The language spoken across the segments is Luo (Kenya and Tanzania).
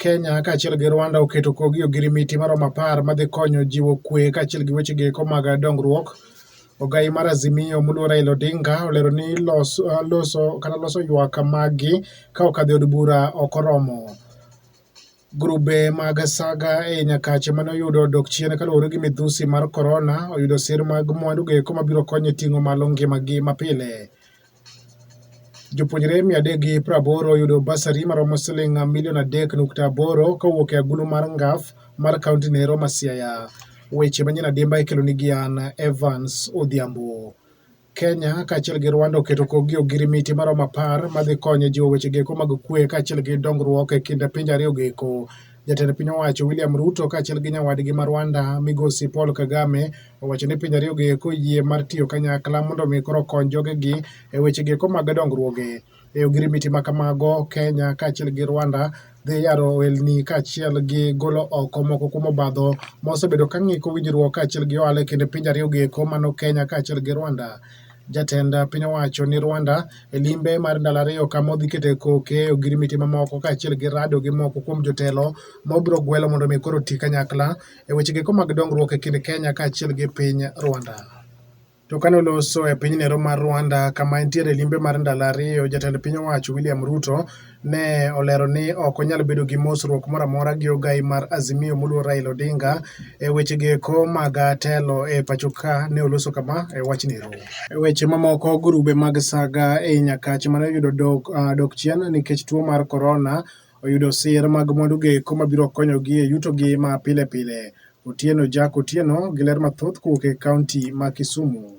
Kenya kaachiel gi Rwanda oketo kogi ogirimiti maromo apar madhi konyo jiwo kwe kaachiel gi weche geko mag dongruok. Ogai mar Azimio muluo Raila Odinga olero ni loso, uh, loso kata loso ywak maggi ka okadhi od bura ok oromo. Grube mag saga e Nyakache mane oyudo dok chien kaluwore gi midhusi mar korona oyudo sir mag mwandu geko mabiro konye ting'o malo ngimagi mapile. Jopuonjre mia adek gi piero aboro oyudo basari maromo siling milion adek nukta aboro kowuok e agulu mar ngaf mar kaunti no ero ma Siaya. Weche manyien adimba ikelo ni Gian Evans Odhiambo. Kenya kaachiel gi Rwanda oketo kogi ogirimiti maromo apar madhi konyo jiwo weche geko mag kwe kaachiel gi dongruok e kind pinje ariyo geko Jatend piny owacho William Ruto kaachiel gi nyawadgi ma Rwanda migosi Paul Kagame owacho ni pinje ariyogo eko yie mar tiyo kanyakla mondo mi koro kony jogegi e wechego eko mag dongruoge. E ogirimiti ma kamago, Kenya kaachiel gi Rwanda dhi yaro ohelni kaachiel gi golo oko moko kuom obadho mosebedo ka ng'iko winjruok kaachiel gi ohala e kind pinje ariyogo eko mano Kenya kaachiel gi Rwanda. Jatend piny owacho ni Rwanda e limbe mar ndalo ariyo kama odhi kete koke e ogirimiti mamoko kaachiel gi rado gi moko kuom jotelo ma obiro gwelo mondo mi koro ti kanyakla e weche geko mag dongruok e kind Kenya kaachiel gi piny Rwanda. To kane oloso e piny Nero mar Rwanda kama entiere limbe mar ndalo ariyo, jatend piny owacho William Ruto ne olero ni ok onyal bedo gi mosruok moro amora gi ogai mar Azimio moluor Raila Odinga e wechego eko mag telo e pacho ka ne oloso kama e wachni ero. E weche mamoko, grube mag saga ei Nyakach mane oyudo dok, uh, dok chien nikech tuo mar korona oyudo sir mag mwandugo eko mabiro konyogi e yutogi ma pile pile. Otieno Jack Otieno gi ler mathoth kowuok e kaunti ma Kisumu.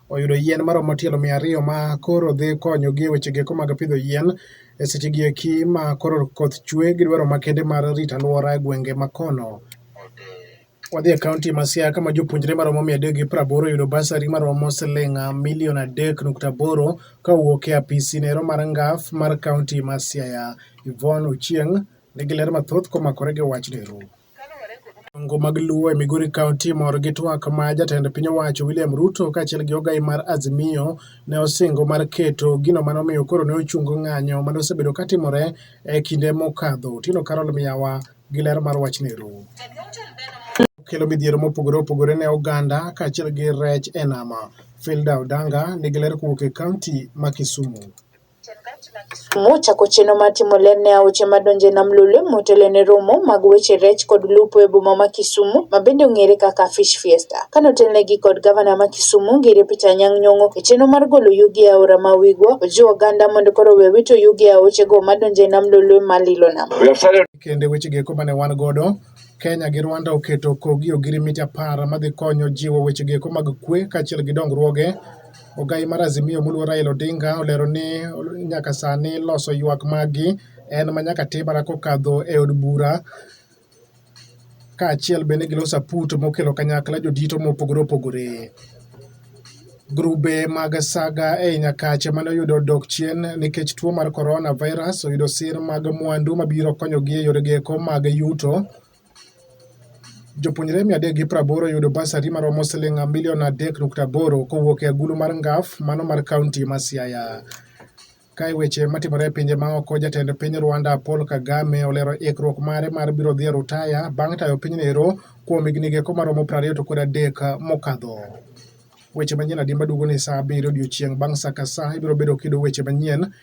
oyudo yien maromo tielo mia ariyo ma koro dhi konyogi e wechegi eko mag pidho yien e sechegi eki ma koro koth chwe gi dwaro makende mar rito alwora e gwenge ma kono. Wadhi e kaunti ma Siaya kama jopuonjre maromo mia adek gi praboro oyudo basari maromo siling milion adek nukta aboro ka owuok e apisi nero mar ngaf mar kaunti ma Siaya. Yvonne Ochieng nigi ler mathoth komakore gi wachni. Ngo mag Luo e Migori County mor gi twak ma jatend piny owacho William Ruto kaachiel gi ogai mar Azimio ne osingo mar keto gino mane omiyo koro ne ochungo ng'anyo mane osebedo katimore e kinde mokadho. Otieno Carol Miyawa gi ler mar wachni ru. Kelo midhiero mopogore opogore ne oganda kaachiel gi rech e nama. Filda Odanga nigi ler kowuok e kaunti ma Kisumu. Mochako chenro mar timo ler ne aoche madonjo e nam Lolwe motelo ne romo mag weche rech kod lupo e boma ma Kisumu ma bende ong'ere kaka Fish Fiesta. Kane otelnegi kod gavana ma Kisumu Ngire Peter Anyang' Nyong'o e chenro mar golo yugi e aora ma Wigwa, ojiwo oganda mondo koro owe wito yugi e aochego madonjo e nam Lolwe ma lilo nam. Kendo e wechegi eko mane wan godo, Kenya gi Rwanda oketo kogi ogirimiti apar madhi konyo jiwo wechegi eko mag kwe kaachiel gi dongruoge Ogai mar Azimio moluor Raila Odinga olero ni nyaka sani loso ywak maggi en ma nyaka tim mana kokadho e od bura kaachiel bende gi loso aput mokelo kanyakla jodito mopogore opogore. Grube mag saga ei Nyakache mane oyudo dok chien nikech tuo mar coronavirus oyudo sir mag mwandu mabiro konyogi e yorego eko mag yuto Jopuonjre mia adek gi praboro yudo basari maromo siling milion adek nukta aboro kowuok e agulu mar Ngaf mano mar kaunti ma Siaya. Kae weche matimore e pinje maoko, jatend piny Rwanda Paul Kagame olero ikruok mare mar biro dhi e rutaya bang' tayo pinyno ero kuom higni geko maromo prariyo to kod adek mokadho. Weche manyien adimba duogo ni saa abiriyo odiechieng' bang' saa ka saa ibiro bedo kido weche manyien